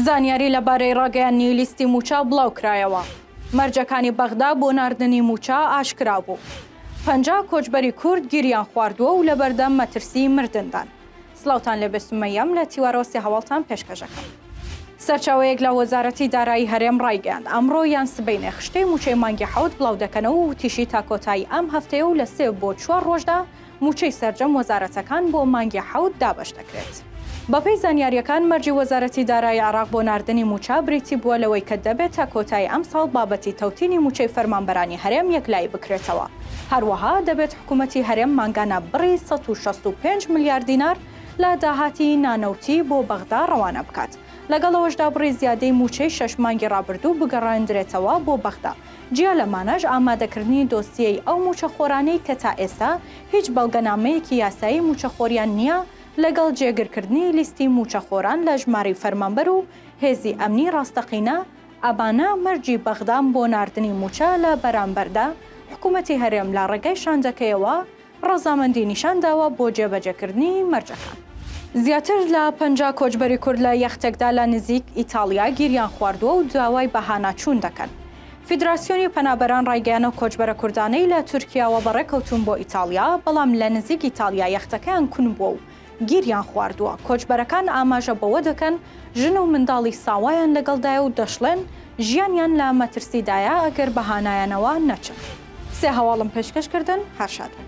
زانیاری لەبارەی ڕاگەیاننی لیستی موچە بڵاوکرایەوە مەرجەکانی بەغدا بۆ ناردنی موچە ئاشکرا بوو پەنجا کۆچبەری کورد گیریان خواردووە و لە بەردەم مەترسی مردندان سڵاوتان لێ بێ سومەیەم لە تیوارەوە سێ هەواڵتان پێشکەش ئەکەم. سەرچاوەیەک لە وەزارەتی دارایی هەرێم ڕایگەیاند، ئەمڕۆ یان سبەینێ خشتەی مووچەی مانگی حەوت بڵاو دەکەنەوە و وتیشی تا کۆتایی ئەم هەفتەیە و لە سێ بۆ چوار ڕۆژدا مووچەی سەرجەم وەزارەتەکان بۆ مانگی حەوت دابەش دەکرێت. بەپێی زانیارییەکان مەرجی وەزارەتی دارایی عێراق بۆ ناردنی مووچە بریتی بووە لەوەی کە دەبێت تا کۆتایی ئەمساڵ بابەتی تەوتینی مووچەی فەرمانبەرانی هەرێم یەکلایی بکرێتەوە، هەروەها دەبێت حکومەتی هەرێم مانگانە بڕی سەد و شەست و پێنج ملیار دینار لە داهاتی نانەوتی بۆ بەغدا ڕەوانە بکات، لەگەڵ ئەوەشدا بڕی زیادەی مووچەی شەش مانگی ڕابردوو بگەڕێندرێتەوە بۆ بەغدا، جیا لەمانەش ئامادەکردنی دۆسیەی ئەو مووچەخۆرانەی کە تا ئێستا هیچ بەڵگەنامەیەکی یاسایی مووچەخۆریان نییە، لەگەڵ جێگرکردنی لیستی مووچەخۆران لە ژمارەی فەرمانبەر و هێزی ئەمنی ڕاستەقینە، ئەمانە مەرجی بەغدان بۆ ناردنی مووچە لە بەرامبەردا، حکوومەتی هەرێم لە ڕێگای شاندەکەیەوە ڕەزامەندی نیشان داوە بۆ جێبەجێکردنی مەرجەکان. زیاتر لە پەنجا کۆچبەری کورد لە یەختێکدا لە نزیک ئیتاڵیا گیریان خواردووە و داوای بەهاناچوون دەکەن. فیدراسیۆنی پەنابەران ڕایگەیانەو کۆچبەرە کوردانەی لە تورکیاوە بەڕێکەوتوون بۆ ئیتاڵیا، بەڵام لە نزیک ئیتاڵیا یەختەکەیان کون بووە و گیریان خواردووە، کۆچبەرەکان ئاماژە بەوە دەکەن ژن و منداڵی ساوایان لەگەڵدایە و دەشڵێن ژیانیان لە مەترسیدایە ئەگەر بە هانایانەوە نەچن. سێ هەواڵم پێشکەش کردن هەر شاد بن.